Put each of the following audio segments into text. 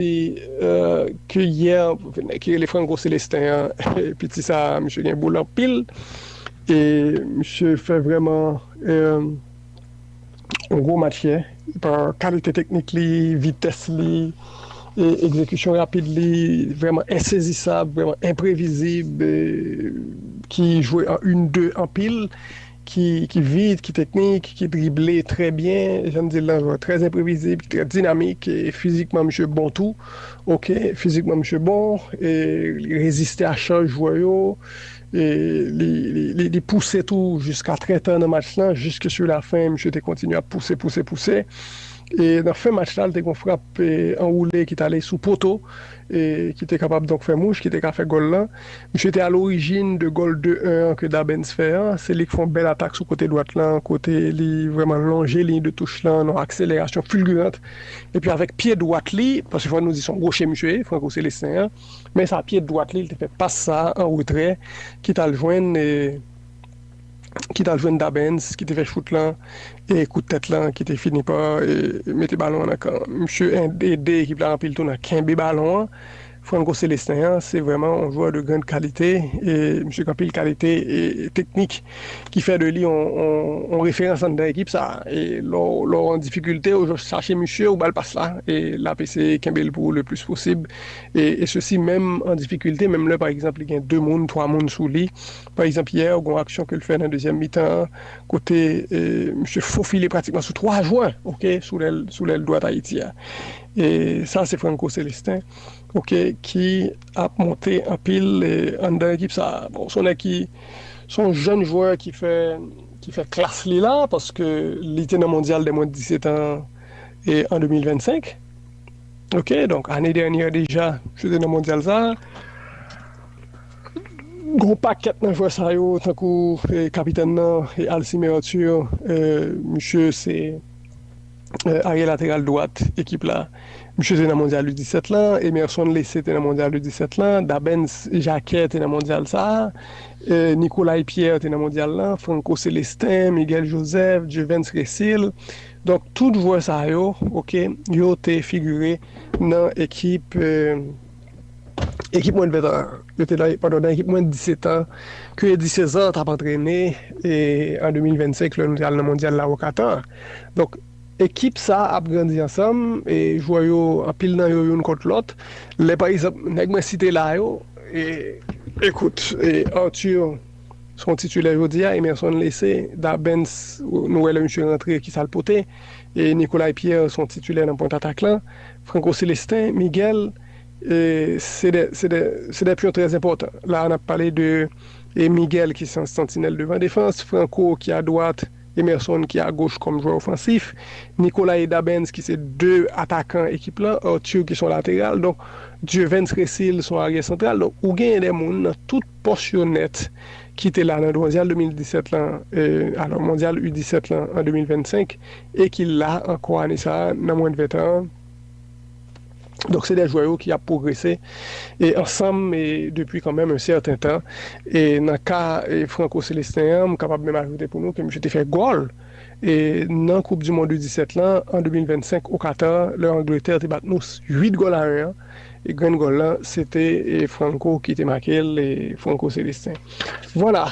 Epi ke yè nèg ki rele Franco Celestin an piti sa misye gen boul anpil e misye fè vrèman yon gwo match yè pa kalite teknik li, vitès li, egzekisyon rapid li vrèman ensezisab, vrèman enprevizib ki jwe an yn de anpil. ki vit, ki teknik, ki drible trè byen, jan n di l lan, jwè trè enprevizib, ki trè dinamik e fizikman misye bon tou, ok, fizikman misye bon e li reziste a chaj jwè yo e li pouse tou jiska trè ta nan match lan, jiske sou la fen misye te kontinye ap pouse, pouse, pouse e nan fen match la li te gen yon frap anwoule ki t ale sou poto e ki te kapab donk fè mouch, ki te ka fè gòl lan. Misye te alorijin de gòl 2 1 an ke Dabenz fè an, se li k fè yon bèl atak sou kote dwat lan kote li vrèman lonje liy de touch lan nan yon akselerasyon fulgurante epi avèk pye dwat li, paske fò nou di se yon goche misye ye, Franco Celestin an, men sa pye dwat li, li te fè pas sa an retrè ki t al jwenn ki t al jwenn Dabenz ki te fè chout lan e kout tèt lan ki te fini pa mete balon an nan kan misye, ede ekip la anpil tou nan kenbe balon an. Franco Celestin an se vrèman yon jwè de grand kalite e misye gen anpil kalite teknik ki fè de li yon referans anndan ekip sa a e lè w an difikilte ou jis chache misye ou ba l pas la e l ap eseye kenbe l pou ou le plis posib e sesi menm an difikilte menm lè pa egzanp li gen 2 moun 3 moun sou li pa egzanp yè gen yon aksyon ke l fè nan dezyèm mitan an kote misye fofile pratikman sou 3 jwè ok sou lèl dwat Ayiti a. E sa se Franco Celestin ok ki ap monte anpil anndan ekip sa. Bon son nèg ki son jèn jwè ki fè ki fè klas li la paske li te nan mondyal dè mwen 17 an e an 2025 ok donk ane dènyè deja li te nan mondyal sa. Gon pakèt nan jwè sa yo tankou kapitèn nan Alcime Arthur misye se. Arye lateral dwat ekip la. Misye te nan mondyal u 17 lan, Emerson Lesse te nan mondyal u 17 lan, Dabens Jacquet te nan mondyal sa, Nicolay Pierre te nan mondyal lan, Franco Celestin, Miguel Joseph, Dieuverns Resil. Donk tout jwè sa yo, ok, yo te figure nan ekip. Ekip mwen 20 an, yo te nan pandan nan ekip mwen 17 an, ke Eddy César t ap antrene e an 2025 lè nou te al nan mondyal la o Katar. Donk ekip sa ap grandi ansanm e jwè yo anpil nan yo youn kont lòt. Lè pa egzanp nèg mwen site la yo e ekout e Arthur se yon titilè jodi a, Emerson Laissé, Dabens nou wè lè misye rantre kisa l pote e Nicolay Pierre se yon titilè nan pwent atak lan. Franco Celestin, Miguel, se de, se de, se de pyon trè enpòtan. La a n ap pale de Miguel ki se yon santinèl devan defans, Franco ki a dwat, Emerson ki a goch kòm jwè ofansif, Nicolas e Dabens ki se de atakan ekip lan, Arthur ki se yon lateral, donk Dieuvens Cecile se yon aryè santral. Donk ou genyen de moun nan tout pòs yo nèt ki te la nan Mondyal 2017 lan, alò Mondyal U 17 lan an 2025. e ki la ankò ane sa a nan mwens de 20 tan an. Donk se 2 jwè yo ki ap pwogrese e ansanm e depi kanmenm yon sèten tan e nan ka e Franco Celestin an m kapab menm ajoute pou nou ke misye te fè gòl e nan koup du mond U 17 lan an 2025 o Katar lè Angletè te bat nous 8 gòl a 1 an. Grenn gòl lan se te Franco ki te make l, Franco Celestin. Vwala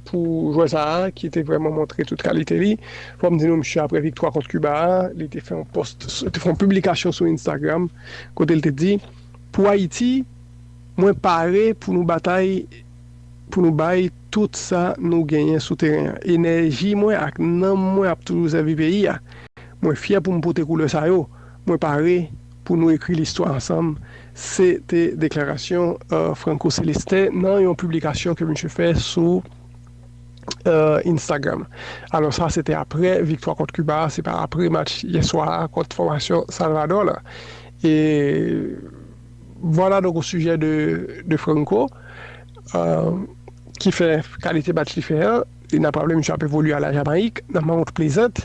pou jwè sa a ki te vrèman montre tout kalite li. Fò m di nou msye aprè viktwa kont Kiba a, li te fè yon post, te fè yon piblikasyon sou Instagram kote l te di, Pou Ayiti, mwen pare pou nou batay pou nou bay tout sa nou genyen sou teren an. Enèji mwen ak nanm mwen ap toujou sèvi peyi a. Mwen fyè pou m pote koulè sa yo. Mwen pare. pou nou ekri listwa ansanm, se te deklarasyon Franco Celestin nan yon piblikasyon ke misye fè sou Instagram. Alò sa se te apre viktwa kont Kiba a, se pa apre match yè swa a kont fòmasyon Salvadò la. E vwala donk o sijè de Franco ki fè kalite match li fè an, e n ap raple misye ap evolye a la Jamayik nan Mount Pleasant.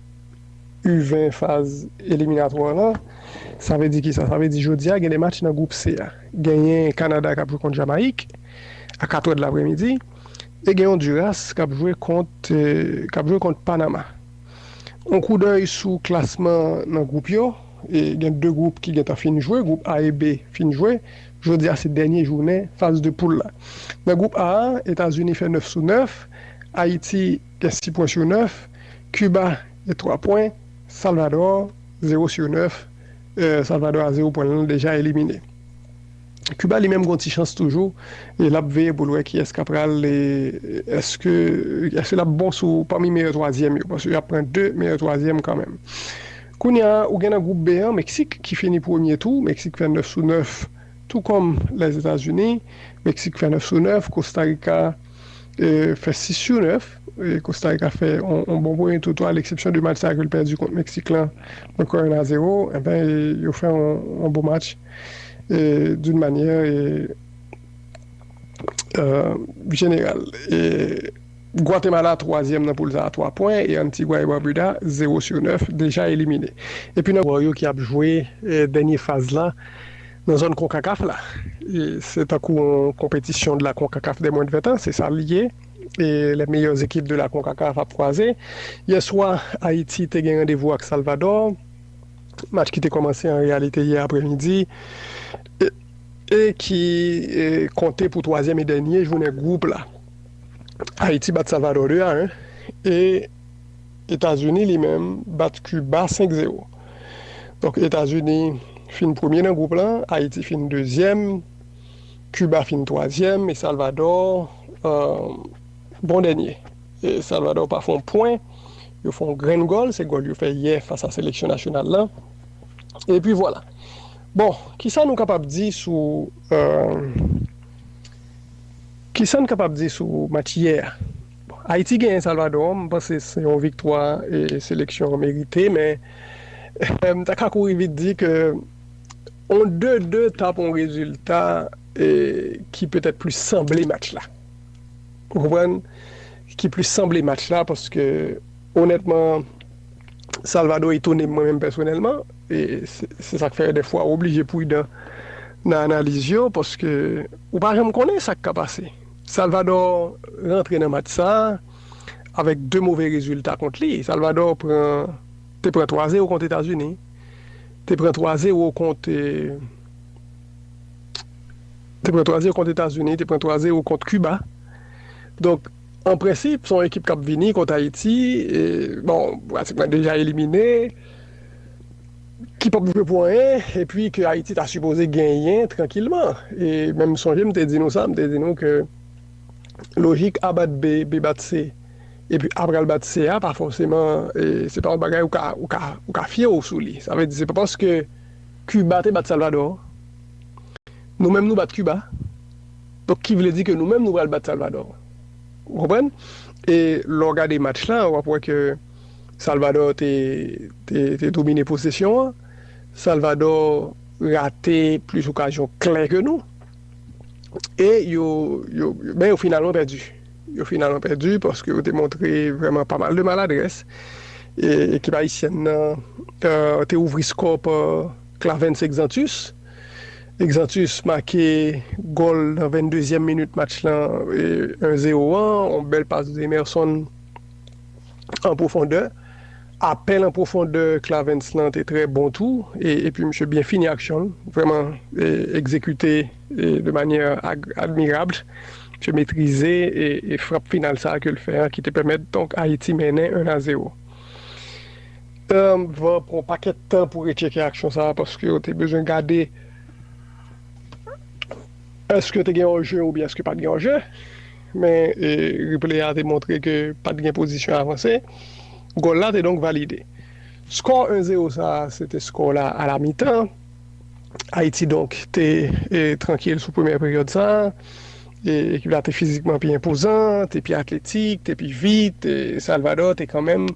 U20 faz eliminatwa la. Sa vle di kisa? Sa vle di jodi a gen 2 match nan gwoup C a. Genyen Kanada k ap jwe kont Jamayik a 4 è delapremidi e gen Ondiras k ap jwe kont k ap jwe kont Panama. On koudèy sou klasman nan gwoup yo, gen 2 gwoup ki gentan fin jwe, gwoup A e B fin jwe. Jodi a se dènye jounen faz de poul la. Nan gwoup A a, Etazini fè 9 sou 9, Ayiti Gen 6 pwen sou 9, Kiba gen 3 pwen, Salvadò 0 sou 9, Salvadò a 0 pwen l lan deja elimine. Kiba li menm gen yon ti chans toujou e lap veye pou l wè kiyès ka pral èske èske lap bon sou pami meyè twazyèm yo paske yap pran 2 meyè twazyèm kanmenm. Kounya ou gen nan gwoup B an Meksik ki fini premye tou, Meksik fè 9 sou 9 tou kòm Lèzetazini, Meksik fè 9 sou 9, Kostarika, fè 6 sou 9, Kostarika fè yon bon premye tou tou a leksepsyon de match sa ke l pèdi kont Meksik lan yon kò 1 a 0, enben yo fè yon bon match doun manyè jeneral. Gwatemala twazyèm nan poul sa a 3 pwen e Antigwa e Barbuda 0 sou 9 deja elimine. Jwè yo ki ap jwe dènye faz la Nan zòn Concacaf la, se tankou yon konpetisyon de la Concacaf des moins de 20 ans, se sa li ye, e les meilleures équipes de la Concacaf ap kwaze. Yè swa, Ayiti te gen randevou ak Salvadò, match ki te kòmanse an reyalite yè aprè midi, e ki konte pou twazyèm e dènye jounen gwoup la. Ayiti bat Salvadò 2 a 1, e. Etazini li menm bat Kiba 5 zero. Donk Etazini fin premye nan gwoup lan, Ayiti fin dezyèm, Kiba fin twazyèm e Salvadò bon dènye. Salvadò pa fon pwen, yo fon yon grenn gòl, se gòl yo fè yè fas a seleksyon nasyonal lan. E pi vwala. Bon, ki sa nou kapab di sou ki sa n kapab di sou match yè a? Bon Ayiti genyen Salvadò an, m panse se yon viktwa seleksyon an merite men m ta ka kouri vit di ke yon 2, 2 ta pou yon rezilta ki petèt plis sanble match la. Ou konprann? Ki plis sanble match la paske onètman Salvadò etone mwen menm pèsonèlman e se sa k fè dèfwa ou oblije pridan nan analiz yo paske ou pa janm konnen sa k ka pase. Salvador rantre nan match sa a avèk 2 move rezilta kont li. Salvador pran te pran 3 zero kont Etazini, te pran 3 zero kont te pran 3 zero kont Etazini, te pran 3 zero kont Kiba. Donk, an prensip, son ekip k ap vini kont Ayiti, bon, pratikman deja elimine. ki pap jwe pou anyen epi ke Ayiti ta sipoze genyen trankilman e men m sonje m te di nou sa, m te di nou ke lojik a bat B, B bat C epi A pral bat C a pa fòseman e se pa yon bagay ou ka ou ka ou ka fye w sou li, sa vle di se pa paske Kiba te bat Salvadò nou menm nou bat Kiba donk ki vle di ke nou menm nou pral bat Salvadò ou konprann e lè w gade match la w ap wè ke. Salvador te domine posesyon an. Salvador rate plis okazyon klè ke nou. E yo, men yo finalman pèdi. Yo finalman pèdi paske yo te montre vrèman pa mal de maladrès. E ekip ayisyèn nan te ouvri skò pa Clavens Exantus. Exantus make gòl nan 22 zyèm minit match lan 1 zero an. Yon bèl pas de Emerson. an pwofondè. Apèl an pwofondè Clarens lan te trè bon tou, epi misye byen fini aksyon l, vrèman egzekite de manyè admirabl. Misye metrize frap final sa a ke l fè an ki te pèmèt donk Ayiti mennen 1 a 0. Mwen pran yon pakèt tan pou retcheke aksyon sa a paske yo te bezwen gade èske te gen òje oubyen èske pa t gen òje. Men replay a te montre ke pat gen pozisyon avanse, gòl la te donk valide. Skò 1 zero sa se te skò la a la mitan, Ayiti donk te trankil sou premyè peryòd sa, ekip la te fizikman pi enpozan, te pi atletik, te pi vit, Salvadò te kanmenm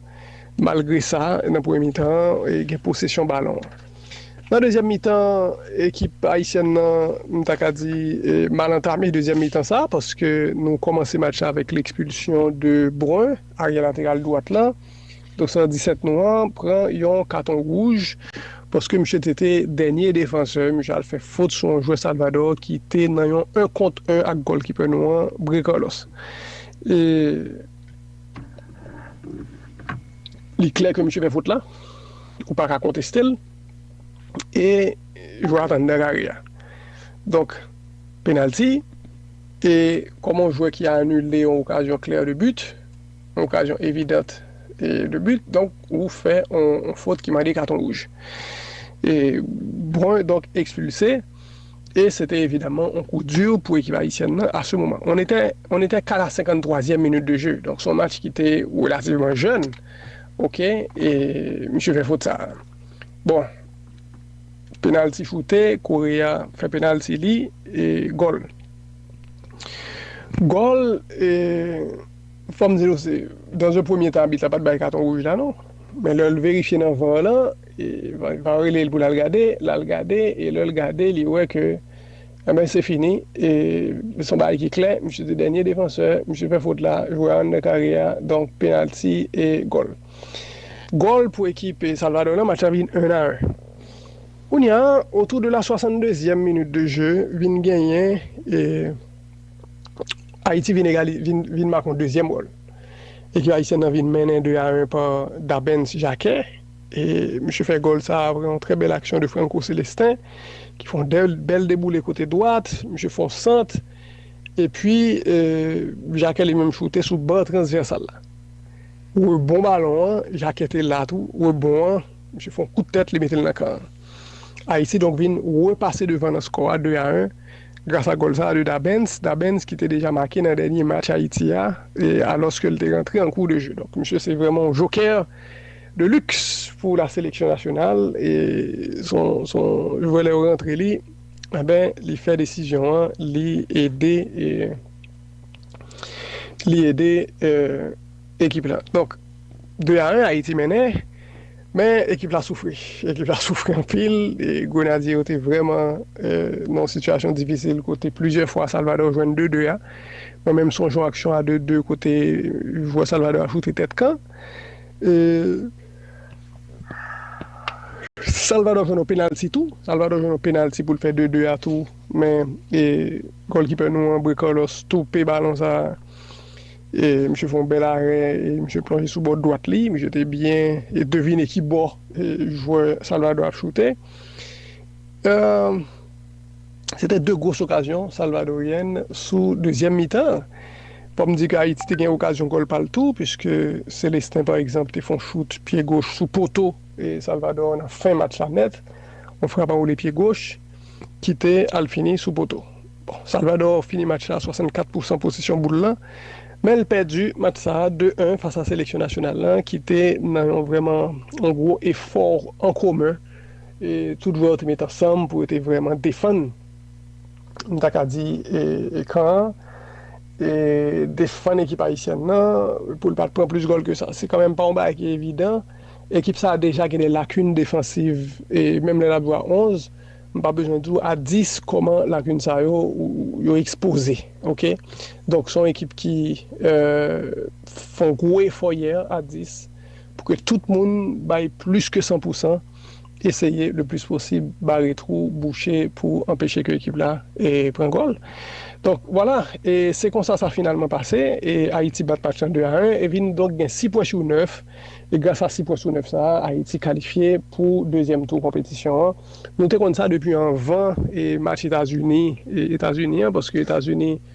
malgre sa nan premye mitan an gen posesyon balon. Nan dezyèm mitan, ekip ayisyèn nan m ta ka di mal antame dezyèm mitan sa paske nou kòmanse match la avèk lekspilsyon de Brun, aryè lateral dwat la, dorsal 17 nou an pran yon katon wouj paske misye te te dènye defansè, misye al fè fot sou yon jwè Salvadò ki te nan yon 1 kont 1 ak gòlkipè nou an, Bré Carlos. E li klè ke misye fè fot la. Ou pa ka konteste l e jwè a t anndan kare a. Donk, penalty e kòman yon jwè ki anile yon okazyon klè de but, yon okazyon evidant de but, donk ou fè yon fot ki mande katon wouj. E Brun donk ekspilse e se te evidaman yon kou di pou ekip ayisyèn nan a se moman. On était, on était qu'à la 53 zièm minit de jeu, donk se yon match ki te relativman jèn. Ok e misye fè fot sa. Bon penalty choute Korea fè penalty li e gòl. Gòl e fòm di nou se dans un premier tan abit la pat bay katon wouj la non men lèl verifye nan var lan e var relel poul al gade lal gade e lèl gade li wè ke Anben se fini, e se yon bagay ki klè, misye se dènye defansè, misye fè fot la, jwe a anndan kare a, donk penalti e gòl. Gòl pou ekip Salvadò nan, match la vin 1 a 1. Kounya, otou de la 62 zièm minit de je, vin genyen, Ayiti vin egali, vin make yon dezyèm gòl. Ekip ayisyèn nan vin mennen 2 a 1 pa Dabens Jacquet. E misye fè gòl sa aprè yon trè bèl aksyon de Franco Celestin ki fè yon bèl deboule kote dwat, misye fè yon sant epi Jacquet li menm choute sou ban transvèsal la. Rebon balon an, Jacquet te la tou, rebon an, misye fè yon kout tèt li mete l nan kan an. Ayiti donk vin repase devan nan skò a 2 a 1 gras a gòl sa de Dabens, Dabens ki te deja make nan dènye match Ayiti a alòske l te rantre an kou de je. Donk misye se vrèman yon jokè. De luxe pou la seleksyon nasyonal e son son jwè lè yo rantre li enben li fè desizyon an li ede e li ede e ekip la donk 2 a 1 ayiti mennen men ekip la soufri ekip la soufri anpil e grenadye yo te vrèman e nan yon sitiyasyon difisil kote plizyè fwa salvadò jwenn 2 2 a mwen menm sonje yon aksyon a 2 2 kote jwè salvadò a choute tèt kan. Salvador jwenn yon penalty tou Salvador jwenn yon penalty poul fè 2 2 a tou men Goalkeeper nou an Bray Carlos toupe balon sa misye fè yon bèl arè misye plonje sou bò dwat li misye te byen devine ki bò jwè Salvador ap choute. Se te 2 gwos okazyon Salvadoryen sou dezyèm mitan an. Fò m di ke Ayiti te gen okazyon gòl pa l tou puiske Celestin pa egzanp te fè yon chout pye goch sou poto Salvador nan fen match la nèt, yon frap anwole pye goch ki te al fini sou poto. Bon, Salvador fini match la a 64 pousan posesyon boul lan, men l pèdi match sa a 2, 1 fas a seleksyon nasyonal lan ki te nan yon vrèman yon gwo efò an komen. Tout jwè yo te met ansanm pou yo te vrèman defann, m ta ka di, kan an, defann ekip ayisyèn nan pou l pa t pran plis gòl ke sa. Se kanmenm pa yon bagay ki evidan. Ekip sa a deja gen de lakin defansiv. Menm lè n ap jwe a 11, m pa bezwen di w a 10 kòman lakin sa yo, yo ekspoze. Ok. Donk se yon ekip ki fè yon gwo efò yè a 10. pou ke tout moun bay plis ke 100 pou 100, eseye le plis posib bare twou, bouche pou anpeche ke ekip la pran gòl. Donk, vwala, e se konsa sa finalman pase, e Ayiti bat match lan 2 a 1, e vin donk gen 6 pwen sou 9, e gras a 6 pwen sou 9 sa a, Ayiti kalifye pou dezyèm tou konpetisyon an. Nou te konn sa depi anvan match Etazini, Etazini an, paske Etazini.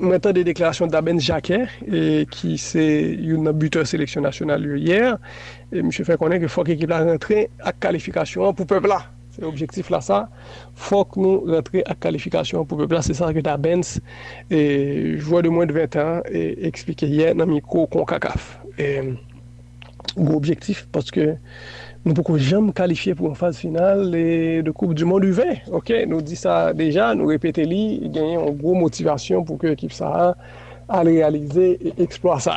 Mwen tande deklarasyon Dabens Jacquet ki se youn nan butè seleksyon nasyonal yo yè, misye fè konnen ke fòk ekip la rantre ak kalifikasyon an pou pèp la. Se objektif la sa, fòk nou rantre ak kalifikasyon an pou pèp la, se sa ke Dabens, jwè de mwen de 20 tan, eksplike yè nan mikwo Concacaf. gwo objektif paske nou poko janm kalifye pou yon faz final de koup du mond u 20 ok nou di sa deja nou repete li genyen yon gwo motivasyon pou ke ekip sa al reyalize eksplwa sa.